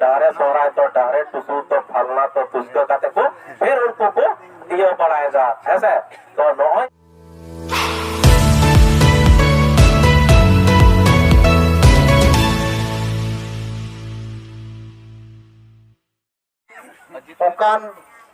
ᱰᱟᱦᱨᱮ ᱥᱚᱦᱨᱟᱭ ᱛᱚ ᱰᱟᱦᱨᱮ ᱴᱩᱥᱩ ᱛᱚ ᱯᱷᱟᱞᱱᱟ ᱛᱚ ᱛᱩᱥᱠᱟᱹ ᱠᱟᱛᱮ ᱠᱚ ᱯᱷᱤᱨ ᱩᱱᱠᱩ ᱠᱚ ᱤᱭᱟᱹ ᱵᱟᱲᱟᱭᱮᱫᱟ ᱦᱮᱸᱥᱮ ᱛᱚ ᱱᱚᱜᱼᱚᱭ ᱚᱱᱠᱟᱱ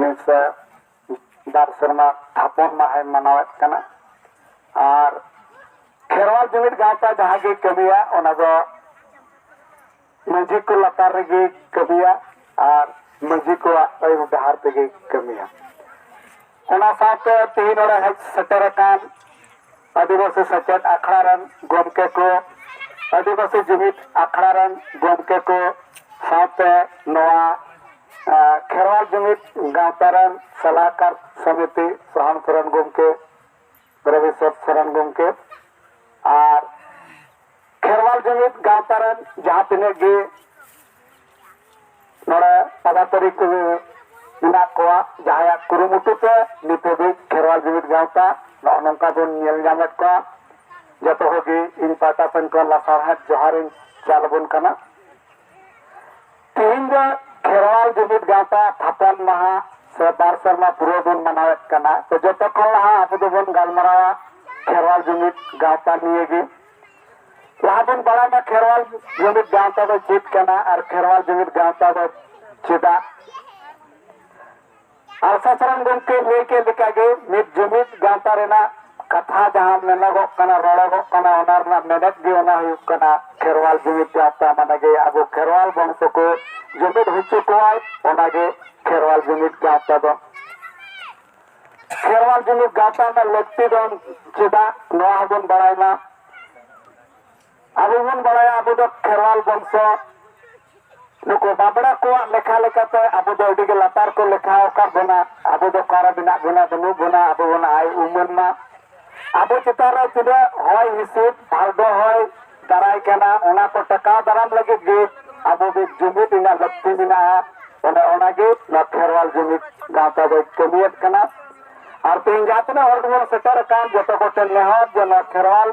ᱱᱮᱥ ᱵᱟᱨ ᱥᱮᱨᱢᱟ ᱛᱷᱟᱯᱚᱱ ᱢᱟᱦᱟᱭ ᱢᱟᱱᱟᱣᱮᱫ ᱠᱟᱱᱟ ᱟᱨ ᱠᱷᱮᱨᱣᱟᱞ ᱡᱩᱢᱤᱫ ᱜᱟᱶᱛᱟ ᱡᱟᱦᱟᱸ ᱜᱮ ᱠᱟᱹᱢᱤᱭᱟ ᱚᱱᱟ ᱫᱚ ᱢᱟᱹᱡᱷᱤ ᱠᱚ ᱞᱟᱛᱟᱨ ᱨᱮᱜᱮ ᱠᱟᱹᱢᱤᱭᱟ ᱟᱨ ᱢᱟᱹᱡᱷᱤ ᱠᱚᱣᱟᱜ ᱟᱹᱭᱩᱨ ᱰᱟᱦᱟᱨ ᱛᱮᱜᱮ ᱠᱟᱹᱢᱤᱭᱟ ᱚᱱᱟ ᱥᱟᱶᱛᱮ ᱛᱮᱦᱮᱧ ᱱᱚᱰᱮ ᱦᱮᱡ ᱥᱮᱴᱮᱨ ᱟᱠᱟᱱ ᱟᱹᱫᱤᱵᱟᱹᱥᱤ ᱥᱮᱪᱮᱫ ᱟᱠᱷᱲᱟ ᱨᱮᱱ ᱜᱚᱢᱠᱮ ᱠᱚ ᱟᱹᱫᱤᱵᱟᱹᱥᱤ ᱡᱩᱢᱤᱫ ᱟᱠᱷᱲᱟ ᱨᱮᱱ ᱜᱚᱢᱠᱮ ᱠᱚ ᱥᱟᱶᱛᱮ ᱱᱚᱣᱟ ᱠᱷᱮᱨᱣᱟᱞ ᱡᱩᱢᱤᱫ ᱜᱟᱶᱛᱟ ᱨᱮᱱ ᱥᱟᱞᱟᱦᱠᱟᱨ ᱥᱚᱢᱤᱛᱤ ᱥᱚᱦᱟᱱᱯᱩᱨ ᱨᱮᱱ ᱜᱚᱢᱠᱮ ᱨᱚᱵᱤᱥᱚᱨ ᱥᱚᱨᱮᱱ ᱜᱚᱢᱠᱮ ᱟᱨ ᱠᱷᱮᱨᱣᱟᱞ ᱡᱩᱢᱤᱫ ᱜᱟᱶᱛᱟ ᱨᱮᱱ ᱡᱟᱦᱟᱸ ᱛᱤᱱᱟᱹᱜ ᱜᱮ ᱱᱚᱰᱮ ᱯᱟᱫᱟᱛᱟᱹᱨᱤ ᱠᱚ ᱢᱮᱱᱟᱜ ᱠᱚᱣᱟ ᱡᱟᱦᱟᱸᱭᱟᱜ ᱠᱩᱨᱩᱢᱩᱴᱩ ᱛᱮ ᱱᱤᱛ ᱦᱟᱹᱵᱤᱡ ᱠᱷᱮᱨᱣᱟᱞ ᱡᱩᱢᱤᱫ ᱜᱟᱶᱛᱟ ᱱᱚᱜᱼᱚ ᱱᱚᱝᱠᱟ ᱵᱚᱱ ᱧᱮᱞ ᱧᱟᱢᱮᱫ ᱠᱚᱣᱟ ᱡᱚᱛᱚ ᱦᱚᱲ ᱜᱮ ᱤᱧ ᱯᱟᱦᱴᱟ ᱥᱮᱱ ᱠᱷᱚᱱ ᱞᱟᱥᱟᱲᱦᱮᱫ ᱡᱚᱦᱟᱨᱤᱧ ᱪᱟᱞ ᱟᱵᱚᱱ ᱠᱟᱱᱟ ᱛᱮᱦᱮᱧ ᱫᱚ ᱠᱷᱮᱨᱣᱟᱞ ᱡᱩᱢᱤᱫ ᱜᱟᱶᱛᱟ ᱛᱷᱟᱯᱚᱱ ᱢᱟᱦᱟ ᱥᱮ ᱵᱟᱨ ᱥᱮᱨᱢᱟ ᱯᱩᱨᱟᱹᱣ ᱵᱚᱱ ᱢᱟᱱᱟᱣᱮᱫ ᱠᱟᱱᱟ ᱛᱚ ᱡᱚᱛᱚ ᱠᱷᱚᱱ ᱞᱟᱦᱟ ᱟᱵᱚ ᱫᱚᱵᱚᱱ ᱜᱟᱞᱢᱟᱨᱟᱣᱟ ᱠᱷᱮᱨᱣᱟᱞ ᱡᱩᱢᱤᱫ ᱜᱟᱶᱛᱟ ᱱᱤᱭᱮ ᱜᱮ ᱞᱟᱦᱟ ᱵᱚᱱ ᱵᱟᱲᱟᱭ ᱢᱟ ᱠᱷᱮᱨᱣᱟᱞ ᱡᱩᱢᱤᱫ ᱜᱟᱶᱛᱟ ᱫᱚ ᱪᱮᱫ ᱠᱟᱱᱟ ᱟᱨ ᱠᱷᱮᱨᱣᱟᱞ ᱡᱩᱢᱤᱫ ᱜᱟᱶᱛᱟ ᱫᱚ ᱪᱮᱫᱟᱜ ᱟᱨ ᱥᱟᱥᱨᱟᱢ ᱜᱚᱢᱠᱮ ᱞᱟᱹᱭ ᱠᱮᱫ ᱞᱮᱠᱟᱜᱮ ᱢᱤᱫ ᱡᱩᱢᱤᱫ ᱜᱟᱶᱛᱟ ᱨᱮᱱᱟᱜ ᱠᱟᱛᱷᱟ ᱡᱟᱦᱟᱸ ᱢᱮᱱᱚᱜᱚᱜ ᱠᱟᱱᱟ ᱨᱚᱲᱚᱜᱚᱜ ᱠᱟᱱᱟ ᱚᱱᱟ ᱨᱮᱱᱟᱜ ᱢᱮᱱᱮᱛ ᱜᱮ ᱚᱱᱟ ᱦᱩᱭᱩᱜ ᱠᱟᱱᱟ ᱠᱷᱮᱨᱣᱟᱞ ᱡᱩᱢᱤᱫ ᱜᱟᱶᱛᱟ ᱢᱟᱱᱮ ᱜᱮ ᱟᱵᱚ ᱠᱷᱮᱨᱣᱟᱞ ᱵᱚᱝᱥᱚ ᱠᱚ ᱡᱩᱢᱤᱫ ᱦᱚᱪᱚ ᱠᱚᱣᱟᱭ ᱚᱱᱟᱜᱮ ᱠᱷᱮᱨᱣᱟᱞ ᱡᱩᱢᱤᱫ ᱜᱟᱶᱛᱟ ᱫᱚ ᱠᱷᱮᱨᱣᱟᱞ ᱡᱩᱢᱤᱫ ᱜᱟᱶᱛᱟ ᱨᱮᱱᱟᱜ ᱞᱟᱹᱠᱛᱤ ᱫᱚ ᱪᱮᱫᱟᱜ ᱱᱚᱣᱟ ᱦᱚᱸᱵᱚᱱ ᱵᱟᱲᱟᱭ ᱢᱟ ᱟᱵᱚ ᱵᱚᱱ ᱵᱟᱲᱟᱭᱟ ᱟᱵᱚ ᱫᱚ ᱠᱷᱮᱨᱣᱟᱞ ᱵᱚᱝᱥᱚ ᱱᱩᱠᱩ ᱵᱟᱵᱽᱲᱟ ᱠᱚᱣᱟᱜ ᱞᱮᱠᱷᱟ ᱞᱮᱠᱟᱛᱮ ᱟᱵᱚ ᱫᱚ ᱟᱹᱰᱤ ᱜᱮ ᱞᱟᱛᱟᱨ ᱠᱚ ᱞᱮᱠᱷᱟ ᱟᱠᱟᱫ ᱵᱚᱱᱟ ᱟᱵᱚ ᱫᱚ ᱚᱠᱟᱨᱮ ᱢᱮᱱᱟᱜ ᱵᱚᱱᱟ ᱵᱟᱹᱱᱩᱜ ᱵᱚᱱᱟ ᱟᱵᱚ ᱵᱚᱱ ᱟᱭ ᱩᱢᱟᱹᱱ ᱢᱟ ᱟᱵᱚ ᱪᱮᱛᱟᱱ ᱨᱮ ᱛᱤᱱᱟᱹᱜ ᱦᱚᱭ ᱦᱤᱸᱥᱤᱫ ᱵᱷᱟᱨᱰᱚ ᱦᱚᱭ ᱫᱟᱨᱟᱭ ᱠᱟᱱᱟ ᱚᱱᱟ ᱠᱚ ᱴᱮᱠᱟᱣ ᱫᱟᱨᱟᱢ ᱞᱟᱹᱜᱤᱫ ᱜᱮ ᱟᱵᱚ ᱢᱤᱫ ᱡᱩᱢᱤᱫ ᱨᱮᱱᱟᱜ ᱞᱟᱹᱠᱛᱤ ᱢᱮᱱᱟᱜᱼᱟ ᱚᱱᱮ ᱚᱱᱟᱜᱮ ᱱᱚᱣᱟ ᱠᱷᱮᱨᱣᱟᱞ ᱡᱩᱢᱤᱫ ᱜᱟᱶᱛᱟ ᱫᱚᱭ ᱠᱟᱹᱢᱤᱭᱮᱫ ᱠᱟᱱᱟ ᱟᱨ ᱛᱮᱦᱮᱧ ᱡᱟᱦᱟᱸ ᱛᱤᱱᱟᱹᱜ ᱦᱚᱲ ᱜᱮᱵᱚᱱ ᱥᱮᱴᱮᱨ ᱟᱠᱟᱱ ᱡᱚᱛᱚ ᱠᱚᱴᱷᱮᱱ ᱱᱮᱦᱚᱨ ᱡᱮ ᱱᱚᱣᱟ ᱠᱷᱮᱨᱣᱟᱞ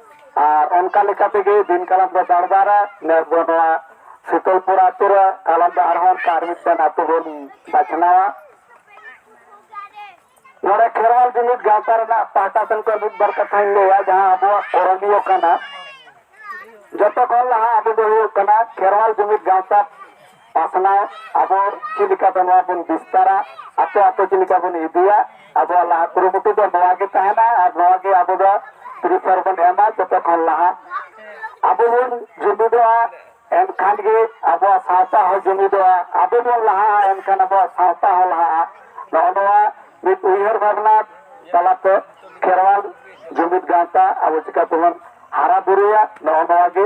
ᱟᱨ ᱚᱱᱠᱟ ᱞᱮᱠᱟ ᱛᱮᱜᱮ ᱫᱤᱱ ᱠᱟᱞᱚᱢ ᱫᱚ ᱵᱟᱲᱵᱟᱨᱟ ᱱᱮᱥ ᱫᱚ ᱱᱚᱣᱟ ᱥᱤᱛᱚᱞᱯᱩᱨ ᱟᱛᱳ ᱨᱮ ᱠᱟᱞᱚᱢ ᱫᱚ ᱟᱨᱦᱚᱸ ᱚᱱᱠᱟ ᱟᱨ ᱢᱤᱫᱴᱮᱱ ᱟᱛᱳ ᱵᱚᱱ ᱵᱟᱪᱷᱱᱟᱣᱟ ᱱᱚᱰᱮ ᱠᱷᱮᱨᱣᱟᱞ ᱡᱩᱢᱤᱫ ᱜᱟᱶᱛᱟ ᱨᱮᱱᱟᱜ ᱯᱟᱦᱴᱟ ᱥᱮᱱ ᱠᱷᱚᱱ ᱢᱤᱫ ᱵᱟᱨ ᱠᱟᱛᱷᱟᱧ ᱞᱟᱹᱭᱟ ᱡᱟᱦᱟᱸ ᱟᱵᱚᱣᱟᱜ ᱠᱚᱨᱚᱱᱤᱭᱚ ᱠᱟᱱᱟ ᱡᱚᱛᱚ ᱠᱷᱚᱱ ᱞᱟᱦᱟ ᱟᱵᱚ ᱫᱚ ᱦᱩᱭᱩᱜ ᱠᱟᱱᱟ ᱠᱷᱮᱨᱣᱟᱞ ᱡᱩᱢᱤᱫ ᱜᱟᱶᱛᱟ ᱯᱟᱥᱱᱟᱣ ᱟᱵᱚ ᱪᱮᱫ ᱞᱮᱠᱟᱛᱮ ᱱᱚᱣᱟ ᱵᱚᱱ ᱵᱤᱥᱛᱟᱨᱟ ᱟᱛᱳ ᱟᱛᱳ ᱪᱮᱫ ᱞᱮᱠᱟ ᱵᱚᱱ ᱤᱫᱤᱭᱟ ᱟᱵᱚᱣᱟᱜ ᱞᱟᱦᱟ ᱠᱩᱨᱩᱢᱩᱴᱩ ᱫᱚ ᱱᱚᱣᱟ ᱜᱮ ᱛᱟᱦᱮᱱᱟ ᱟᱨ ᱱᱚᱣᱟ ᱜᱮ ᱟᱵᱚ ᱫᱚ ᱛᱤᱨᱤᱥᱟ ᱨᱮᱵᱚᱱ ᱮᱢᱟ ᱡᱚᱛᱚ ᱠᱷᱚᱱ ᱞᱟᱦᱟ ᱟᱵᱚ ᱵᱚᱱ ᱡᱩᱢᱤᱫᱚᱜᱼᱟ ᱮᱱᱠᱷᱟᱱ ᱜᱮ ᱟᱵᱚᱣᱟᱜ ᱥᱟᱶᱛᱟ ᱦᱚᱸ ᱡᱩᱢᱤᱫᱚᱜᱼᱟ ᱟᱵᱚ ᱵᱚᱱ ᱞᱟᱦᱟᱜᱼᱟ ᱮᱱᱠᱷᱟᱱ ᱟᱵᱚᱣᱟᱜ ᱥᱟᱶᱛᱟ ᱦᱚᱸ ᱞᱟᱦᱟᱜᱼᱟ ᱱᱚᱜᱼᱚ ᱱᱚᱣᱟ ᱢᱤᱫ ᱩᱭᱦᱟᱹᱨ ᱵᱷᱟᱵᱽᱱᱟ ᱛᱟᱞᱟᱛᱮ ᱠᱷᱮᱨᱣᱟᱞ ᱡᱩᱢᱤᱫ ᱜᱟᱶᱛᱟ ᱟᱵᱚ ᱪᱤᱠᱟᱹ ᱛᱮᱵᱚᱱ ᱦᱟᱨᱟ ᱵᱩᱨᱩᱭᱟ ᱱᱚᱜᱼᱚ ᱱᱚᱣᱟ ᱜᱮ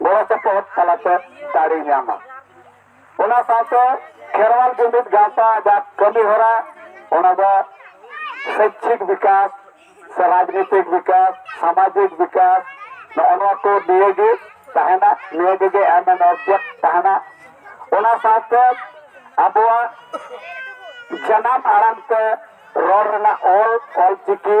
ᱜᱚᱲᱚ ᱥᱚᱯᱚᱦᱚᱫ ᱛᱟᱞᱟᱛᱮ ᱫᱟᱲᱮ ᱧᱟᱢᱟ ᱚᱱᱟ ᱥᱟᱶᱛᱮ ᱠᱷᱮᱨᱣᱟᱞ ᱡᱩᱢᱤᱫ ᱜᱟᱶᱛᱟ ᱡᱟ ᱠᱟᱹᱢᱤ ᱦᱚᱨᱟ ᱚᱱᱟ ᱫᱚ ᱥᱚᱭᱪᱷᱤᱠ ᱵᱤᱠᱟᱥ ᱥᱮ ᱨᱟᱡᱽᱱᱤᱛᱤᱠ ᱵᱤᱠᱟᱥ ᱥᱟᱢᱟᱡᱤᱠ ᱵᱤᱠᱟᱥ ᱱᱚᱜᱼᱚ ᱱᱚᱣᱟ ᱠᱚ ᱱᱤᱭᱟᱹ ᱜᱮ ᱛᱟᱦᱮᱱᱟ ᱱᱤᱭᱟᱹ ᱜᱮ ᱮᱢ ᱮᱱ ᱚᱵᱡᱮᱠᱴ ᱛᱟᱦᱮᱱᱟ ᱚᱱᱟ ᱥᱟᱶᱛᱮ ᱟᱵᱚᱣᱟᱜ ᱡᱟᱱᱟᱢ ᱟᱲᱟᱝ ᱛᱮ ᱨᱚᱲ ᱨᱮᱱᱟᱜ ᱚᱞ ᱚᱞ ᱪᱤᱠᱤ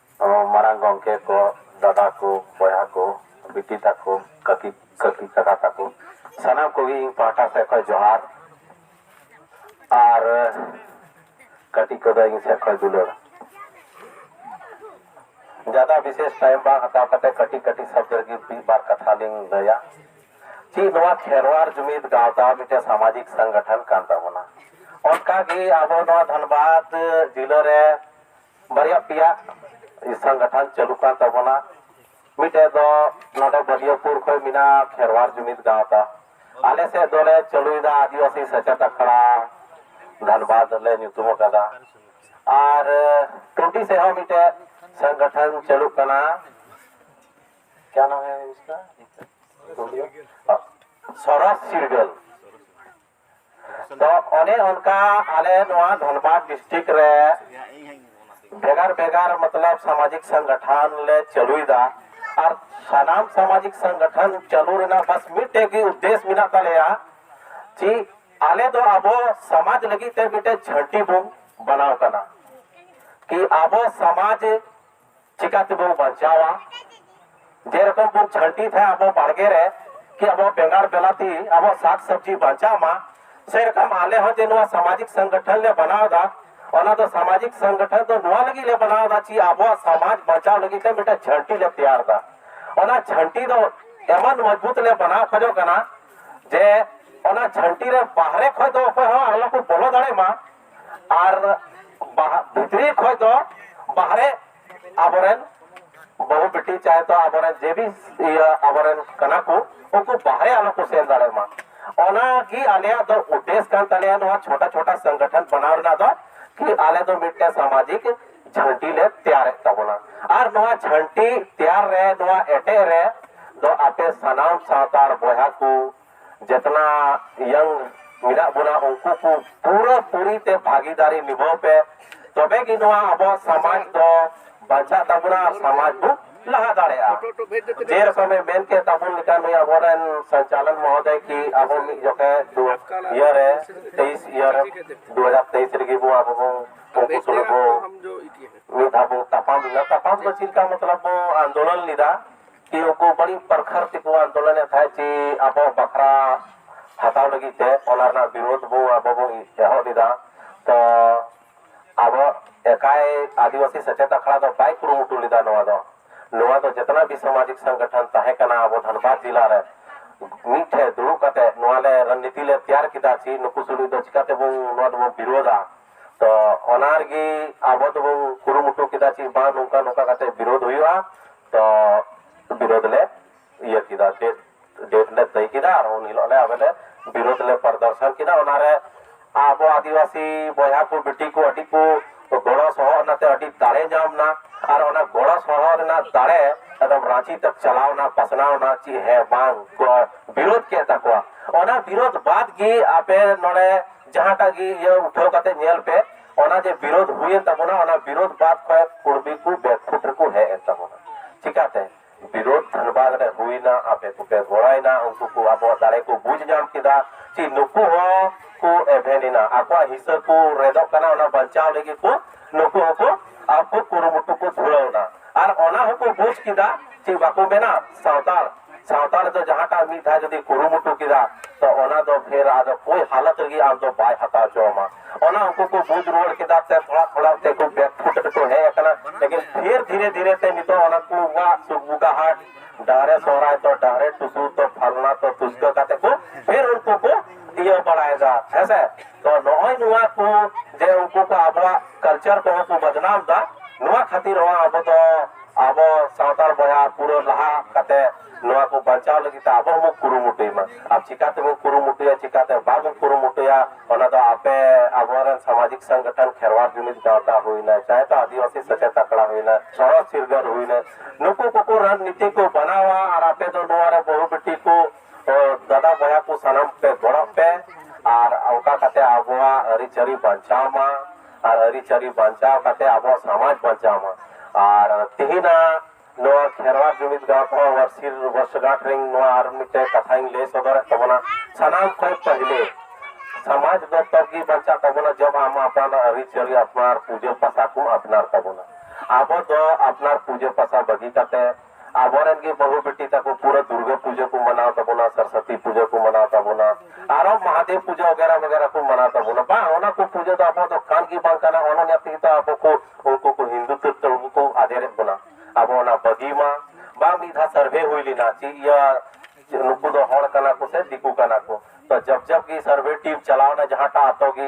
ᱢᱟᱨᱟᱝ ᱜᱚᱢᱠᱮ ᱠᱚ, ᱫᱟᱫᱟ ᱠᱚ, ᱵᱚᱭᱦᱟ ᱠᱚ, ᱵᱤᱴᱤ ᱛᱟᱠᱚ, ᱠᱟᱹᱠᱤ ᱠᱟᱹᱠᱤ ᱠᱟᱠᱟ ᱛᱟᱠᱚ ᱥᱟᱱᱟᱢ ᱠᱚᱜᱮ ᱤᱧ ᱯᱟᱦᱴᱟ ᱥᱮᱫ ᱠᱷᱚᱱ ᱡᱚᱦᱟᱨ ᱟᱨ ᱠᱟᱹᱴᱤᱡ ᱠᱚᱫᱚ ᱤᱧ ᱥᱮᱫ ᱠᱷᱚᱱ ᱫᱩᱞᱟᱹᱲ᱾ ᱡᱟᱫᱟ ᱵᱤᱥᱮᱥ ᱴᱟᱭᱤᱢ ᱵᱟᱝ ᱦᱟᱛᱟᱣ ᱠᱟᱛᱮ ᱠᱟᱹᱴᱤᱡ ᱠᱟᱹᱴᱤᱡ ᱥᱚᱵᱽᱫᱚ ᱨᱮᱜᱮ ᱢᱤᱫ ᱵᱟᱨ ᱠᱟᱛᱷᱟ ᱞᱤᱧ ᱞᱟᱹᱭᱟ᱾ ᱪᱮᱫ ᱱᱚᱣᱟ ᱠᱷᱮᱨᱣᱟᱲ ᱡᱩᱢᱤᱫ ᱜᱟᱶᱛᱟ ᱢᱤᱫᱴᱮᱱ ᱥᱟᱢᱟᱡᱤᱠ ᱥᱚᱝᱜᱚᱴᱷᱚᱱ ᱠᱟᱱ ᱛᱟᱵᱚᱱᱟ᱾ ᱚᱱᱠᱟ ᱜᱮ ᱟᱵᱚ ᱱᱚᱣᱟ ᱫᱷᱟᱱᱵᱟᱫᱽ ᱡᱤᱞᱟᱹ ᱨᱮ ᱵᱟᱨᱭᱟ ᱯᱮᱭᱟ ᱥᱚᱝᱜᱚᱴᱷᱚᱱ ᱪᱟᱹᱞᱩ ᱠᱟᱱ ᱛᱟᱵᱚᱱᱟ ᱢᱤᱫᱴᱮᱡ ᱫᱚ ᱱᱚᱰᱮ ᱵᱟᱹᱞᱤᱭᱟᱹᱯᱩᱨ ᱠᱷᱚᱱ ᱢᱮᱱᱟᱜᱼᱟ ᱠᱷᱮᱨᱣᱟᱲ ᱡᱩᱢᱤᱫ ᱜᱟᱶᱛᱟ ᱟᱞᱮ ᱥᱮᱫ ᱫᱚᱞᱮ ᱪᱟᱹᱞᱩᱭᱮᱫᱟ ᱟᱹᱫᱤᱵᱟᱹᱥᱤ ᱥᱮᱪᱮᱫ ᱟᱠᱷᱲᱟ ᱫᱷᱟᱱᱵᱟᱫᱽ ᱞᱮ ᱧᱩᱛᱩᱢ ᱟᱠᱟᱫᱟ ᱟᱨ ᱴᱩᱰᱤ ᱥᱮᱫ ᱦᱚᱸ ᱢᱤᱫᱴᱮᱡ ᱥᱚᱝᱜᱚᱴᱷᱚᱱ ᱪᱟᱹᱞᱩᱜ ᱠᱟᱱᱟ ᱠᱭᱟ ᱱᱟᱢ ᱦᱮ ᱤᱥᱠᱟ ᱥᱚᱨᱚᱥ ᱪᱤᱨᱜᱟᱹᱞ ᱫᱚ ᱚᱱᱮ ᱚᱱᱠᱟ ᱟᱞᱮ ᱱᱚᱣᱟ ᱫᱷᱟᱱᱵᱟᱫᱽ ᱰᱤᱥᱴᱨᱤᱠ ᱨᱮ ᱵᱷᱮᱜᱟᱨ ᱵᱷᱮᱜᱟᱨ ᱢᱚᱛᱞᱚᱵ ᱥᱟᱢᱟᱡᱤᱠ ᱥᱚᱝᱜᱚᱴᱷᱚᱱ ᱞᱮ ᱪᱟᱹᱞᱩᱭᱮᱫᱟ ᱟᱨ ᱥᱟᱱᱟᱢ ᱥᱟᱢᱟᱡᱤᱠ ᱥᱚᱝᱜᱚᱴᱷᱚᱱ ᱪᱟᱹᱞᱩ ᱨᱮᱱᱟᱜ ᱵᱟᱥ ᱢᱤᱫᱴᱮᱡ ᱜᱮ ᱩᱫᱽᱫᱮᱥ ᱢᱮᱱᱟᱜ ᱛᱟᱞᱮᱭᱟ ᱡᱮ ᱟᱞᱮ ᱫᱚ ᱟᱵᱚ ᱥᱚᱢᱟᱡᱽ ᱞᱟᱹᱜᱤᱫ ᱛᱮ ᱢᱤᱫᱴᱮᱡ ᱡᱷᱟᱹᱱᱴᱤ ᱵᱚᱱ ᱵᱮᱱᱟᱣ ᱠᱟᱱᱟ ᱠᱤ ᱟᱵᱚ ᱥᱚᱢᱟᱡᱽ ᱪᱤᱠᱟ ᱛᱮᱵᱚᱱ ᱵᱟᱧᱪᱟᱣᱟ ᱡᱮᱨᱚᱠᱚᱢ ᱵᱚᱱ ᱡᱷᱟᱹᱱᱴᱤ ᱛᱟᱦᱮᱸ ᱟᱵᱚ ᱵᱟᱲᱜᱮ ᱨᱮ ᱠᱤ ᱟᱵᱚ ᱵᱮᱸᱜᱟᱲ ᱵᱮᱞᱟᱛᱤ ᱟᱵᱚ ᱥᱟᱠ ᱥᱚᱵᱽᱡᱤ ᱵᱟᱧᱪᱟᱣ ᱢᱟ ᱥᱮᱨᱚᱠᱚᱢ ᱟᱞᱮ ᱦᱚᱸ ᱡᱮ ᱱᱚᱣᱟ ᱥᱟᱢᱟᱡᱤᱠ ᱥᱚᱝᱜᱚᱴᱷᱚᱱ ᱞᱮ ᱵᱮᱱᱟᱣ ᱮᱫᱟ ᱚᱱᱟ ᱫᱚ ᱥᱟᱢᱟᱡᱤᱠ ᱥᱚᱝᱜᱚᱴᱷᱚᱱ ᱫᱚ ᱱᱚᱣᱟ ᱞᱟᱹᱜᱤᱫ ᱞᱮ ᱵᱮᱱᱟᱣ ᱮᱫᱟ ᱪᱮ ᱟᱵᱚᱣᱟᱜ ᱥᱚᱢᱟᱡᱽ ᱵᱟᱧᱪᱟᱣ ᱞᱟᱹᱜᱤᱫ ᱛᱮ ᱢᱤᱫᱴᱟᱝ ᱡᱷᱟᱹᱱᱴᱤ ᱞᱮ ᱛᱮᱭᱟᱨ ᱮᱫᱟ ᱚᱱᱟ ᱡᱷᱟᱹᱱᱴᱤ ᱫᱚ ᱮᱢᱚᱱ ᱢᱚᱡᱽᱵᱩᱛ ᱞᱮ ᱵᱮᱱᱟᱣ ᱠᱷᱚᱡᱚᱜ ᱠᱟᱱᱟ ᱡᱮ ᱚᱱᱟ ᱡᱷᱟᱹᱱᱴᱤ ᱨᱮ ᱵᱟᱦᱨᱮ ᱠᱷᱚᱡ ᱫᱚ ᱚᱠᱚᱭ ᱦᱚᱸ ᱟᱞᱚ ᱠᱚ ᱵᱚᱞᱚ ᱫᱟᱲᱮᱭᱟᱜ ᱢᱟ ᱟᱨ ᱵᱟᱦᱟ ᱵᱷᱤᱛᱨᱤ ᱠᱷᱚᱡ ᱫᱚ ᱵᱟᱦᱨᱮ ᱟᱵᱚᱨᱮᱱ ᱵᱟᱹᱦᱩ ᱵᱤᱴᱤ ᱪᱟᱦᱮ ᱛᱚ ᱟᱵᱚᱨᱮᱱ ᱡᱮ ᱵᱤ ᱤᱭᱟᱹ ᱟᱵᱚᱨᱮᱱ ᱠᱟᱱᱟ ᱠᱚ ᱩᱱᱠᱩ ᱵᱟᱦᱨᱮ ᱟᱞᱚ ᱠᱚ ᱥᱮᱱ ᱫᱟᱲᱮᱭᱟᱜ ᱢᱟ ᱚᱱᱟ ᱜᱮ ᱟᱞᱮᱭᱟᱜ ᱫᱚ ᱩᱫᱽᱫᱮᱥ ᱠᱟᱱ ᱛᱟᱞᱮᱭᱟ ᱱᱚᱣᱟ ᱪᱷᱳᱴᱟ ᱪᱷᱳᱴᱟ ᱥᱚᱝᱜᱚᱴᱷᱚᱱ ᱵᱮᱱᱟᱣ ᱨᱮᱱᱟᱜ ᱫᱚ ᱠᱤ ᱟᱞᱮ ᱫᱚ ᱢᱤᱫᱴᱮᱱ ᱥᱟᱢᱟᱡᱤᱠ ᱡᱷᱟᱹᱱᱴᱤ ᱞᱮ ᱛᱮᱭᱟᱨᱮᱫ ᱛᱟᱵᱚᱱᱟ ᱟᱨ ᱱᱚᱣᱟ ᱡᱷᱟᱹᱱᱴᱤ ᱛᱮᱭᱟᱨ ᱨᱮ ᱱᱚᱣᱟ ᱮᱴᱮᱫ ᱨᱮ ᱫᱚ ᱟᱯᱮ ᱥᱟᱱᱟᱢ ᱥᱟᱱᱛᱟᱲ ᱵᱚᱭᱦᱟ ᱠᱚ ᱡᱮᱛᱱᱟ ᱭᱟᱝ ᱢᱮᱱᱟᱜ ᱵᱚᱱᱟ ᱩᱱᱠᱩ ᱠᱚ ᱯᱩᱨᱟᱹ ᱯᱩᱨᱤ ᱛᱮ ᱵᱷᱟᱜᱤᱫᱟᱨᱤ ᱱᱤᱵᱷᱟᱹᱣ ᱯᱮ ᱛᱚᱵᱮ ᱜᱮ ᱱᱚᱣᱟ ᱟᱵᱚ ᱥᱚᱢᱟᱡᱽ ᱫᱚ ᱵᱟᱧᱪᱟᱜ ᱛᱟᱵᱚᱱᱟ ᱟᱨ ᱥᱚᱢᱟᱡᱽ ᱵᱚ ᱞᱟᱦᱟ ᱫᱟᱲᱮᱭᱟᱜᱼᱟ ᱡᱮ ᱨᱚᱠᱚᱢᱮ ᱢᱮᱱ ᱠᱮᱫ ᱛᱟᱵᱚᱱ ᱞᱮᱠᱟ ᱱᱩᱭ ᱟᱵᱚᱨᱮᱱ ᱥᱚᱧᱪᱟᱞᱚᱱ ᱢᱚᱦᱚᱫᱚᱭ ᱠᱤ ᱟᱵᱚ ᱢᱤᱫ ᱡᱚᱠᱷᱮ ᱫᱩ ᱤᱭᱟᱹ ᱨᱮ ᱛᱮᱭᱤᱥ ᱤᱭᱟᱹ ᱨᱮ ᱫᱩ ᱦᱟᱡᱟᱨ ᱛᱮᱭᱤᱥ ᱨᱮᱜᱮ ᱵᱚ ᱟᱵᱚ ᱵᱚ ᱩᱱᱠᱩ ᱥᱩᱞᱩᱠ ᱵᱚ ᱢᱤᱫ ᱫᱷᱟᱣ ᱵᱚ ᱛᱟᱯᱟᱢ ᱞᱮᱱᱟ ᱛᱟᱯᱟᱢ ᱫᱚ ᱪᱮᱫ ᱞᱮᱠᱟ ᱢᱚᱛᱞᱚᱵ ᱵᱚ ᱟᱱᱫᱳᱞᱚᱱ ᱞᱮᱫᱟ ᱛᱮ ᱩᱱᱠᱩ ᱵᱟᱹᱲᱤᱡ ᱯᱨᱚᱠᱷᱟᱨᱛᱤ ᱠᱚ ᱟᱱᱫᱳᱞᱚᱱᱮᱫ ᱛᱟᱦᱮᱸᱫ ᱪᱮ ᱟᱵᱚᱣᱟᱜ ᱵᱟᱠᱷᱨᱟ ᱦᱟᱛᱟᱣ ᱞᱟᱹᱜᱤᱫ ᱛᱮ ᱚᱱᱟ ᱨᱮᱱᱟᱜ ᱵᱤᱨᱳᱫᱷ ᱵᱚ ᱟᱵᱚ ᱵᱚ ᱮᱦᱚᱵ ᱞᱮᱫᱟ ᱛᱚ ᱟᱵᱚ ᱮᱠᱟᱭ ᱟᱹᱫᱤᱵᱟᱹᱥᱤ ᱥᱮᱪᱮᱫ ᱟᱠᱷᱲᱟ ᱫᱚ ᱵᱟᱭ ᱠᱩᱨᱩᱢᱩᱴᱩ ᱞᱮᱫᱟ ᱱᱚᱣᱟ ᱫᱚ ᱱᱚᱣᱟ ᱫᱚ ᱡᱮᱛᱱᱟ ᱜᱮ ᱥᱟᱢᱟᱡᱤᱠ ᱥᱚᱝᱜᱚᱴᱷᱚᱱ ᱛᱟᱦᱮᱸ ᱠᱟᱱᱟ ᱟᱵᱚ ᱫᱷᱟᱱᱵᱟᱫᱽ ᱡᱮᱞᱟ ᱨᱮ ᱢᱤᱫ ᱴᱷᱮᱱ ᱫᱩᱲᱩᱵ ᱠᱟᱛᱮ ᱱᱚᱣᱟ ᱞᱮ ᱨᱚᱱᱱᱤᱛᱤ ᱞᱮ ᱛᱮᱭᱟᱨ ᱠᱮᱫᱟ ᱪᱮ ᱱᱩᱠᱩ ᱥᱩᱞᱩᱡ ᱫᱚ ᱪᱤᱠᱟᱹ ᱛᱮᱵᱚᱱ ᱱᱚᱣᱟ ᱫᱚᱵᱚᱱ ᱵᱤᱨᱳᱫᱷᱟ ᱛᱚ ᱚᱱᱟ ᱨᱮᱜᱮ ᱟᱵᱚ ᱫᱚᱵᱚᱱ ᱠᱩᱨᱩᱢᱩᱴᱩ ᱠᱮᱫᱟ ᱪᱮ ᱵᱟᱝ ᱱᱚᱝᱠᱟ ᱱᱚᱝᱠᱟ ᱠᱟᱛᱮ ᱵᱤᱨᱳᱫᱷ ᱦᱩᱭᱩᱜᱼᱟ ᱵᱤᱨᱳᱫ ᱞᱮ ᱤᱭᱟᱹ ᱠᱮᱫᱟ ᱰᱮᱴ ᱰᱮᱴ ᱞᱮ ᱛᱟᱹᱭ ᱠᱮᱫᱟ ᱟᱨ ᱩᱱ ᱦᱤᱞᱳᱜ ᱞᱮ ᱟᱞᱮ ᱞᱮ ᱵᱤᱨᱳᱫ ᱞᱮ ᱯᱨᱚᱫᱚᱨᱥᱚᱱ ᱠᱮᱫᱟ ᱚᱱᱟᱨᱮ ᱟᱵᱚ ᱟᱹᱫᱤᱵᱟᱹᱥᱤ ᱵᱚᱭᱦᱟ ᱠᱚ ᱵᱤᱴᱤ ᱠᱚ ᱟᱹᱰᱤ ᱠᱚ ᱜᱚᱲᱚ ᱥᱚᱦᱚᱫ ᱚᱱᱟᱛᱮ ᱟᱹᱰᱤ ᱫᱟᱲᱮ ᱧᱟᱢ ᱮᱱᱟ ᱟᱨ ᱚᱱᱟ ᱜᱚᱲᱚ ᱥᱚᱦᱚᱫ ᱨᱮᱱᱟᱜ ᱫᱟᱲᱮ ᱮᱠᱫᱚᱢ ᱨᱟᱺᱪᱤ ᱛᱮ ᱪᱟᱞᱟᱣ ᱮᱱᱟ ᱯᱟᱥᱱᱟᱣ ᱮᱱᱟ ᱪᱮᱫ ᱦᱮᱸ ᱵᱟᱝ ᱠᱚ ᱵᱤᱨᱳᱫ ᱠᱮᱫ ᱛᱟᱠᱚᱣᱟ ᱚᱱᱟ ᱵᱤᱨᱳᱫ ᱵᱟᱫ ᱜᱮ ᱟᱯᱮ ᱱᱚᱰᱮ ᱡᱟᱦᱟᱸᱴᱟᱜ ᱜᱮ ᱤᱭᱟᱹ ᱩᱴᱷᱟᱹᱣ ᱠᱟᱛᱮ ᱧᱮᱞ ᱯᱮ ᱚᱱᱟ ᱡᱮ ᱵᱤᱨᱳᱫᱷ ᱦᱩᱭᱮᱱ ᱛᱟᱵᱚᱱᱟ ᱚᱱᱟ ᱵᱤᱨᱳᱫᱷ ᱵᱟᱫ ᱠᱚᱭᱮᱠ ᱠᱩᱲᱢᱤ ᱠᱚ ᱵᱮᱠᱯᱷᱩᱴ ᱨᱮᱠᱚ ᱦᱮᱡ ᱮᱱ ᱛᱟᱵᱚᱱᱟ ᱪᱤᱠᱟᱛᱮ ᱵᱤᱨᱳᱫᱷ ᱫᱷᱟᱱᱵᱟᱫ ᱨᱮ ᱦᱩᱭᱱᱟ ᱟᱯᱮ ᱠᱚᱯᱮ ᱜᱚᱲᱟᱭᱱᱟ ᱩᱱᱠᱩ ᱠᱚ ᱟᱵᱚᱣᱟᱜ ᱫᱟᱲᱮ ᱠᱚ ᱵᱩᱡᱽ ᱧᱟᱢ ᱠᱮᱫᱟ ᱪᱮ ᱱᱩᱠᱩ ᱦᱚᱸ ᱠᱚ ᱮᱵᱷᱮᱱ ᱮᱱᱟ ᱟᱠᱚᱣᱟᱜ ᱦᱤᱥᱟᱹ ᱠᱚ ᱨᱮᱫᱚᱜ ᱠᱟᱱᱟ ᱚᱱᱟ ᱵᱟᱧᱪᱟᱣ ᱞᱟᱹᱜᱤᱫ ᱠᱚ ᱱᱩᱠᱩ ᱦᱚᱸᱠᱚ ᱟᱠᱚ ᱠᱩᱨᱩᱢᱩᱴᱩ ᱠᱚ ᱫᱷᱩᱨᱟᱹᱣᱱᱟ ᱟᱨ ᱚᱱᱟ ᱦᱚᱸᱠᱚ ᱵᱩᱡᱽ ᱠᱮᱫᱟ ᱪᱮ ᱵᱟᱠᱚ ᱢᱮᱱᱟ ᱥᱟᱱᱛᱟᱲ ᱥᱟᱶᱛᱟ ᱨᱮᱫᱚ ᱡᱟᱦᱟᱸᱴᱟᱜ ᱢᱤᱫ ᱫᱷᱟᱣ ᱡᱩᱫᱤ ᱠᱩᱨᱩᱢᱩᱴᱩ ᱠᱮᱫᱟ ᱛᱚ ᱚᱱᱟ ᱫᱚ ᱯᱷᱮᱨ ᱟᱫᱚ ᱠᱳᱭ ᱦᱟᱞᱚᱛ ᱨᱮᱜᱮ ᱟᱢ ᱫᱚ ᱵᱟᱭ ᱦᱟᱛᱟᱣ ᱦᱚᱪᱚᱣᱟᱢᱟ ᱚᱱᱟ ᱩᱱᱠᱩ ᱠᱚ ᱵᱩᱡᱽ ᱨᱩᱣᱟᱹᱲ ᱠᱮᱫᱟ ᱛᱮ ᱛᱷᱚᱲᱟ ᱛᱷᱚᱲᱟ ᱛᱮ ᱠᱚ ᱵᱮᱠ ᱯᱷᱩᱴ ᱨᱮᱠᱚ ᱦᱮᱡ ᱟᱠᱟᱱᱟ ᱞᱮᱠᱤᱱ ᱯᱷᱮᱨ ᱫᱷᱤᱨᱮ ᱫᱷᱤᱨᱮ ᱛᱮ ᱱᱤᱛᱚᱜ ᱚᱱᱟ ᱠᱚ ᱵᱟ ᱥᱩᱠᱵᱩᱠᱟ ᱦᱟᱴ ᱰᱟᱦᱨᱮ ᱥᱚᱦᱨᱟᱭ ᱛᱚ ᱰᱟᱦᱨᱮ ᱴᱩᱥᱩ ᱛᱚ ᱯᱷᱟᱞᱱᱟ ᱛᱚ ᱛᱩᱥᱠᱟᱹ ᱠᱟᱛᱮ ᱠᱚ ᱯᱷᱮᱨ ᱩᱱᱠᱩ ᱠᱚ ᱤᱭᱟᱹ ᱵᱟᱲᱟᱭᱮᱫᱟ ᱦᱮᱸᱥᱮ ᱛᱚ ᱱᱚᱜᱼᱚᱭ ᱱᱚᱣᱟ ᱠᱚ ᱡᱮ ᱩᱱᱠᱩ ᱠᱚ ᱟᱵᱚᱣᱟᱜ ᱠᱟᱞᱪᱟᱨ ᱠᱚᱦᱚᱸ ᱠᱚ ᱵᱟᱫᱱᱟᱢ ᱫᱟ ᱱᱚᱣᱟ ᱠᱷᱟᱹᱛᱤᱨ ᱦᱚᱸ ᱟᱵᱚ ᱫᱚ ᱟᱵᱚ ᱥᱟᱱᱛᱟᱲ ᱵᱚᱭᱦᱟ ᱯᱩᱨᱟᱹ ᱞᱟᱦᱟ ᱠᱟᱛᱮ ᱱᱚᱣᱟ ᱠᱚ ᱵᱟᱧᱪᱟᱣ ᱞᱟᱹᱜᱤᱫ ᱛᱮ ᱟᱵᱚ ᱦᱚᱸᱵᱚ ᱠᱩᱨᱩᱢᱩᱴᱩᱭ ᱢᱟ ᱟᱨ ᱪᱤᱠᱟ ᱛᱮᱵᱚᱱ ᱠᱩᱨᱩᱢᱩᱴᱩᱭᱟ ᱪᱤᱠᱟᱛᱮ ᱵᱟᱵᱚᱱ ᱠᱩᱨᱩᱢᱩᱴᱩᱭᱟ ᱚᱱᱟ ᱫᱚ ᱟᱯᱮ ᱟᱵᱚᱨᱮᱱ ᱥᱟᱢᱟᱡᱤᱠ ᱥᱚᱝᱜᱚᱴᱷᱚᱱ ᱠᱷᱮᱨᱣᱟᱲ ᱡᱩᱢᱤᱫ ᱜᱟᱶᱛᱟ ᱦᱩᱭᱱᱟ ᱪᱟᱦᱮ ᱛᱚ ᱟᱹᱫᱤᱵᱟᱹᱥᱤ ᱥᱮᱪᱮᱫ ᱟᱠᱷᱲᱟ ᱦᱩᱭᱱᱟ ᱥᱚᱲᱚᱠ ᱪᱤᱨᱜᱟᱹᱞ ᱦᱩᱭᱱᱟ ᱱᱩᱠᱩ ᱠᱚᱠᱚ ᱨᱟᱱᱱᱤᱛᱤ ᱠᱚ ᱵᱮᱱᱟᱣᱟ ᱟᱨ ᱟᱯᱮ ᱫᱚ ᱱᱚᱣᱟ ᱨᱮ ᱵᱟᱹᱦᱩ ᱵᱤᱴᱤ ᱠᱚ ᱛᱚ ᱫᱟᱫᱟ ᱵᱚᱭᱦᱟ ᱠᱚ ᱥᱟᱱᱟᱢ ᱯᱮ ᱜᱚᱲᱚᱜ ᱯᱮ ᱟᱨ ᱚᱱᱠᱟ ᱠᱟᱛᱮ ᱟᱵᱚᱣᱟᱜ ᱟᱹᱨᱤᱪᱟᱹᱞᱤ ᱵᱟᱧᱪᱟᱣ ᱢᱟ ᱟᱨ ᱟᱹᱨᱤᱪᱟᱹᱞᱤ ᱵᱟᱧᱪᱟᱣ ᱠᱟᱛᱮ ᱟᱵᱚᱣᱟᱜ ᱥᱚᱢᱟᱡᱽ ᱵᱟᱧᱪᱟᱣ ᱢᱟ ᱟᱨ ᱛᱮᱦᱮᱧᱟᱜ ᱱᱚᱣᱟ ᱠᱷᱮᱨᱣᱟᱲ ᱡᱩᱢᱤᱫ ᱜᱟᱶᱛᱟ ᱣᱟᱨᱥᱤᱨ ᱵᱚᱨᱥᱜᱟᱸᱴ ᱨᱮ ᱱᱚᱣᱟ ᱟᱨ ᱢᱤᱫᱴᱮᱱ ᱠᱟᱛᱷᱟᱧ ᱞᱟᱹᱭ ᱥᱚᱫᱚᱨᱮᱫ ᱛᱟᱵᱚᱱᱟ ᱥᱟᱱᱟᱢ ᱠᱷᱚᱱ ᱯᱟᱹᱦᱤᱞᱮ ᱥᱚᱢᱟᱡᱽ ᱫᱚ ᱛᱚᱵ ᱜᱮ ᱵᱟᱧᱪᱟᱜ ᱛᱟᱵᱚᱱᱟ ᱡᱚᱵ ᱟᱢ ᱟᱯᱱᱟᱨ ᱟᱹᱨᱤᱪᱟᱹᱞᱤ ᱟᱯᱱᱟᱨ ᱯᱩᱡᱟᱹ ᱯᱟᱥᱟ ᱠᱚᱢ ᱟᱯᱱᱟᱨ ᱛᱟᱵᱚᱱᱟ ᱟᱵᱚ ᱫᱚ ᱟᱯᱱᱟᱨ ᱯᱩᱡᱟᱹ ᱯᱟᱥᱟ ᱵᱟᱹᱜᱤ ᱠᱟᱛᱮ ᱟᱵᱚ ᱨᱮᱱ ᱜᱮ ᱵᱟᱹᱦᱩ ᱵᱤᱴᱤ ᱛᱟᱠᱚ ᱯᱩᱨᱟᱹ ᱫᱩᱨᱜᱟᱹ ᱯᱩᱡᱟᱹ ᱠᱚ ᱢᱟᱱᱟᱣ ᱛᱟᱵᱚᱱᱟ, ᱥᱚᱨᱥᱚᱛᱤ ᱯᱩᱡᱟᱹ ᱠᱚ ᱢᱟᱱᱟᱣ ᱛᱟᱵᱚᱱᱟ, ᱟᱨᱚ ᱢᱟᱦᱟᱫᱮᱵᱽ ᱯᱩᱡᱟᱹ ᱚᱜᱮᱨᱟ ᱢᱮᱜᱮᱨᱟ ᱠᱚ ᱢᱟᱱᱟᱣ ᱛᱟᱵᱚᱱᱟ᱾ ᱵᱟᱝ, ᱚᱱᱟ ᱠᱚ ᱯᱩᱡᱟᱹ ᱫᱚ ᱟᱵᱚᱣᱟᱜ ᱫᱚ ᱠᱟᱱ ᱜᱮ ᱵᱟᱝ ᱠᱟᱱᱟ᱾ ᱚᱱᱟ ᱚᱱᱟ ᱛᱮᱜᱮ ᱛᱚ ᱟᱵᱚ ᱠᱚ ᱩᱱᱠᱩ ᱠᱚ ᱦᱤᱱᱫᱩ ᱛᱮᱫ ᱛᱮ ᱟᱵᱚ ᱠᱚ ᱟᱫᱮᱨᱮᱫ ᱵᱚᱱᱟ᱾ ᱟᱵᱚ ᱚᱱᱟ ᱵᱟᱹᱜᱤ ᱢᱟ ᱵᱟᱝ ᱢᱤᱫ ᱫᱷᱟᱣ ᱥᱟᱨᱵᱷᱮ ᱦᱩᱭ ᱞᱮᱱᱟ ᱪᱮᱫ ᱤᱭᱟᱹ ᱱᱩᱠᱩ ᱫᱚ ᱦᱚᱲ ᱠᱟᱱᱟ ᱠᱚ ᱥᱮ ᱫᱤᱠᱩ ᱠᱟᱱᱟ ᱠᱚ᱾ ᱛᱚ ᱡᱚᱵᱽ ᱡᱚᱵᱽ ᱜᱮ ᱥᱟᱨᱵᱷᱮ ᱴᱤᱢ ᱪᱟᱞᱟᱣ ᱮᱱᱟ ᱡᱟᱦᱟᱸᱴᱟᱜ ᱟᱛᱳ ᱜᱮ,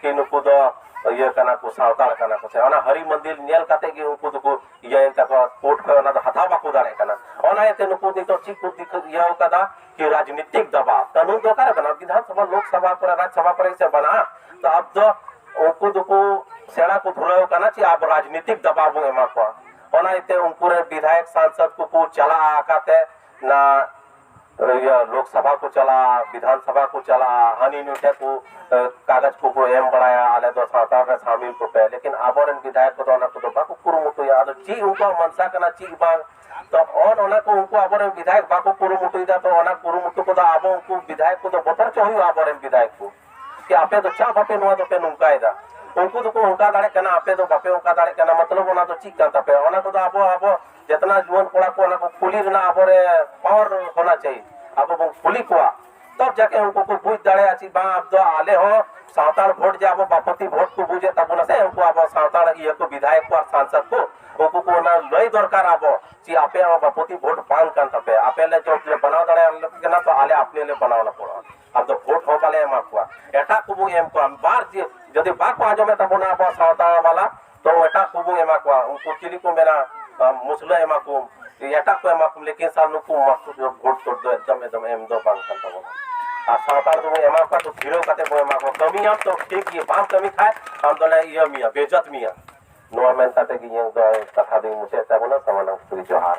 ᱠᱤ ᱱᱩᱠᱩ ᱫᱚ ᱤᱭᱟᱹ ᱠᱟᱱᱟ ᱠᱚ ᱥᱟᱶᱛᱟᱲ ᱠᱟᱱᱟ ᱠᱚ ᱥᱮ ᱚᱱᱟ ᱦᱟᱹᱨᱤ ᱢᱚᱱᱫᱤᱨ ᱧᱮᱞ ᱠᱟᱛᱮ ᱜᱮ ᱩᱱᱠᱩ ᱫᱚᱠᱚ ᱤᱭᱟᱹᱭᱮᱱ ᱛᱟᱠᱚᱣᱟ ᱠᱳᱨᱴ ᱠᱷᱚᱱ ᱚᱱᱟ ᱫᱚ ᱦᱟᱛᱟᱣ ᱵᱟᱠᱚ ᱫᱟᱲᱮᱭᱟᱜ ᱠᱟᱱᱟ ᱚᱱᱟ ᱤᱭᱟᱹᱛᱮ ᱱᱩᱠᱩ ᱱᱤᱛᱚᱜ ᱪᱮᱫ ᱠᱚ ᱫᱤᱠᱩ ᱤᱭᱟᱹ ᱠᱟᱫᱟ ᱠᱤ ᱨᱟᱡᱽᱱᱤᱛᱤᱠ ᱫᱟᱵᱟᱣ ᱠᱟᱹᱱᱩᱱ ᱫᱚ ᱚᱠᱟᱨᱮ ᱵᱮᱱᱟᱜᱼᱟ ᱵᱤᱫᱷᱟᱱ ᱥᱚᱵᱷᱟ ᱞᱳᱠ ᱥᱚᱵᱷᱟ ᱠᱚᱨᱮ ᱨᱟᱡᱽ ᱥᱚᱵᱷᱟ ᱠᱚᱨᱮ ᱥᱮ ᱵᱮᱱᱟᱜᱼᱟ ᱛᱚ ᱟᱵ ᱫᱚ ᱩᱱᱠᱩ ᱫᱚᱠᱚ ᱥᱮᱬᱟ ᱠᱚ ᱫᱷᱩᱨᱟᱹᱣ ᱠᱟᱱᱟ ᱪᱮ ᱟᱵᱚ ᱨᱟᱡᱽᱱᱤᱛᱤᱠ ᱫᱟᱵᱟᱣ ᱵᱚᱱ ᱮᱢᱟ ᱠᱚᱣᱟ ᱚᱱᱟ ᱤᱭᱟᱹᱛᱮ ᱩᱱᱠᱩ ᱨᱮᱱ ᱵᱤᱫᱷᱟᱭᱚᱠ ᱥᱟᱝᱥᱚᱫ ᱠᱚᱠᱚ ᱪᱟᱞᱟᱜᱼᱟ ᱚᱠᱟᱛᱮ ᱚᱱᱟ ᱤᱭᱟᱹ ᱞᱳᱠ ᱥᱟᱵᱷᱟ ᱠᱚ ᱪᱟᱞᱟᱜᱼᱟ ᱵᱤᱫᱷᱟᱱ ᱥᱟᱵᱷᱟ ᱠᱚ ᱪᱟᱞᱟᱜᱼᱟ ᱦᱟᱹᱱᱤ ᱱᱩᱭ ᱴᱷᱮᱱ ᱠᱚ ᱮ, ᱠᱟᱜᱚᱡᱽ ᱠᱚᱠᱚ ᱮᱢ ᱵᱟᱲᱟᱭᱟ ᱟᱞᱮ ᱫᱚ ᱥᱟᱶᱛᱟ ᱨᱮ ᱥᱟᱢᱤᱞ ᱠᱚᱯᱮ ᱞᱮᱠᱤᱱ ᱟᱵᱚᱨᱮᱱ ᱵᱤᱫᱷᱟᱭᱚᱠ ᱠᱚᱫᱚ ᱚᱱᱟ ᱠᱚᱫᱚ ᱵᱟᱠᱚ ᱠᱩᱨᱩᱢᱩᱴᱩᱭᱟ ᱟᱫᱚ ᱪᱮᱫ ᱩᱱᱠᱩᱣᱟᱜ ᱢᱟᱱᱥᱟ ᱠᱟᱱᱟ ᱪᱮᱫ ᱵᱟᱝ ᱛᱚ ᱚᱱ ᱚᱱᱟ ᱠᱚ ᱩᱱᱠᱩ ᱟᱵᱚᱨᱮᱱ ᱵᱤᱫᱷᱟᱭᱚᱠ ᱵᱟᱠᱚ ᱠᱩᱨᱩᱢᱩᱴᱩᱭᱮᱫᱟ ᱛᱚ ᱚᱱᱟ ᱠᱩᱨᱩᱢᱩᱴᱩ ᱠᱚᱫᱚ ᱟᱵᱚ ᱩᱱᱠᱩ ᱵᱤᱫᱷᱟᱭᱚᱠ ᱠᱚᱫᱚ ᱵᱚᱛᱚᱨ ᱪᱚ ᱦᱩᱭᱩᱜᱼᱟ ᱟᱵᱚᱨᱮᱱ ᱵᱤᱫᱷᱟᱭᱚᱠ ᱠᱚ ᱠᱤ ᱟᱯᱮ ᱫᱚ ᱪᱟᱜ ᱵᱟᱯᱮ ᱱᱚᱣᱟ ᱫᱚᱯᱮ ᱱᱚᱝᱠᱟᱭᱮᱫᱟ ᱩᱱᱠᱩ ᱫᱚᱠᱚ ᱚᱱᱠᱟ ᱫᱟᱲᱮᱜ ᱠᱟᱱᱟ ᱟᱯᱮ ᱫᱚ ᱵᱟᱯᱮ ᱚᱱᱠᱟ ᱫᱟᱲᱮᱜ ᱠᱟᱱᱟ ᱢᱚᱛᱞᱚᱵ ᱚᱱᱟ ᱫᱚ ᱪᱮᱫ ᱠᱟᱱ ᱛᱟᱯᱮᱭᱟ ᱚᱱᱟ ᱠᱚᱫᱚ ᱟᱵᱚ ᱟᱵᱚ ᱡᱮᱛᱱᱟ ᱡᱩᱣᱟᱹᱱ ᱠᱚᱲᱟ ᱠᱚ ᱚᱱᱟ ᱠᱚ ᱠᱩᱞᱤ ᱨᱮᱱᱟᱜ ᱟᱵᱚ ᱨᱮ ᱯᱟᱣᱟᱨ ᱦᱳᱱᱟ ᱪᱟᱦᱤᱭᱮ ᱟᱵᱚ ᱵᱚᱱ ᱠᱩᱞᱤ ᱠᱚᱣᱟ ᱛᱚᱵ ᱡᱟᱠᱮ ᱩᱱᱠᱩ ᱠᱚ ᱵᱩᱡᱽ ᱫᱟᱲᱮᱭᱟᱜᱼᱟ ᱪᱮ ᱵᱟᱝ ᱟᱵ ᱫᱚ ᱟᱞᱮ ᱦᱚᱸ ᱥᱟᱱᱛᱟᱲ ᱵᱷᱳᱴ ᱡᱮ ᱟᱵᱚ ᱵᱟᱯᱚᱛᱤ ᱵᱷᱳᱴ ᱠᱚ ᱵᱩᱡᱮᱫ ᱛᱟᱵᱚᱱᱟ ᱥᱮ ᱩᱱᱠᱩ ᱟᱵᱚ ᱥᱟᱱᱛᱟᱲ ᱤᱭᱟᱹ ᱠᱚ ᱵᱤᱫᱷᱟᱭᱚᱠ ᱠᱚ ᱟᱨ ᱥᱟᱝᱥᱚᱫ ᱠᱚ ᱩᱱᱠᱩ ᱠᱚ ᱚᱱᱟ ᱞᱟᱹᱭ ᱫᱚᱨᱠᱟᱨ ᱟᱵᱚ ᱪᱮ ᱟᱯᱮᱭᱟᱜ ᱦᱚᱸ ᱵᱟᱯᱚᱛᱤ ᱵᱷᱳᱴ ᱵᱟᱝ ᱠᱟᱱ ᱛᱟᱯᱮᱭᱟ ᱟᱯᱮ ᱞᱮ ᱡᱚᱵ ᱞᱮ ᱵᱮᱱᱟᱣ ᱫᱟᱲᱮᱭᱟᱞᱮ ᱠᱟᱱᱟ ᱛᱚ ᱟᱞᱮ ᱟᱯᱱᱮ ᱞᱮ ᱵᱮᱱᱟᱣ ᱞᱮ ᱯᱚᱲᱚᱜᱼᱟ ᱟᱵ ᱫᱚ ᱵᱷᱳᱴ ᱦᱚᱸ ᱵᱟᱞᱮ ᱮᱢᱟ ᱠᱚᱣᱟ ᱮᱴᱟᱜ ᱠᱚᱵᱚ ᱮᱢ ᱠᱚᱣᱟ ᱵᱟᱨ ᱡᱮ ᱡᱩᱫᱤ ᱵᱟᱠᱚ ᱟᱸᱡᱚᱢᱮᱫ ᱛᱟᱵᱚᱱᱟ ᱟᱵᱚ ᱥᱟᱶᱛᱟ ᱵᱟᱞᱟ ᱛᱚ ᱮᱴᱟᱜ ᱠᱚᱵᱚᱱ ᱮᱢᱟ ᱠᱚᱣᱟ ᱩᱱᱠᱩ ᱪᱤᱞᱤ ᱠᱚ ᱢᱮᱱᱟ ᱢᱩᱥᱞᱟᱹ ᱮᱢᱟ ᱠᱚᱢ ᱮᱴᱟᱜ ᱠᱚ ᱮᱢᱟ ᱠᱚᱢ ᱞᱮᱠᱤᱱ ᱥᱟᱨ ᱱᱩᱠᱩ ᱢᱟᱥᱴᱩᱨ ᱫᱚ ᱵᱷᱳᱴ ᱪᱳᱴ ᱫᱚ ᱮᱠᱫᱚᱢ ᱮᱠᱫᱚᱢ ᱮᱢ ᱫᱚ ᱵᱟᱝ ᱠᱟᱱ ᱛᱟᱵᱚᱱᱟ ᱟᱨ ᱥᱟᱱᱛᱟᱲ ᱫᱚᱵᱚᱱ ᱮᱢᱟ ᱠᱚᱣᱟ ᱛᱚ ᱫᱷᱤᱨᱟᱹᱣ ᱠᱟᱛᱮ ᱵᱚᱱ ᱮᱢᱟ ᱠᱚᱣᱟ ᱠᱟᱹᱢᱤᱭᱟᱢ ᱛᱚ ᱴᱷᱤᱠ ᱜᱮ ᱵᱟᱢ ᱠᱟᱹᱢᱤ ᱠᱷᱟᱡ ᱟᱢ ᱫᱚᱞᱮ ᱤᱭᱟᱹ ᱢᱮᱭᱟ ᱵᱮᱡᱚᱛ ᱢᱮᱭᱟ ᱱᱚᱣᱟ ᱢᱮᱱ ᱠᱟᱛᱮ ᱜᱮ ᱤᱧᱟᱹᱜ ᱫᱚ ᱠᱟᱛᱷᱟ ᱫᱚᱧ ᱢᱩᱪᱟᱹᱫ ᱛᱟᱵᱚᱱᱟ ᱥᱟᱢᱟᱱᱟᱢ ᱥᱩᱨᱤ ᱡᱚᱦᱟᱨ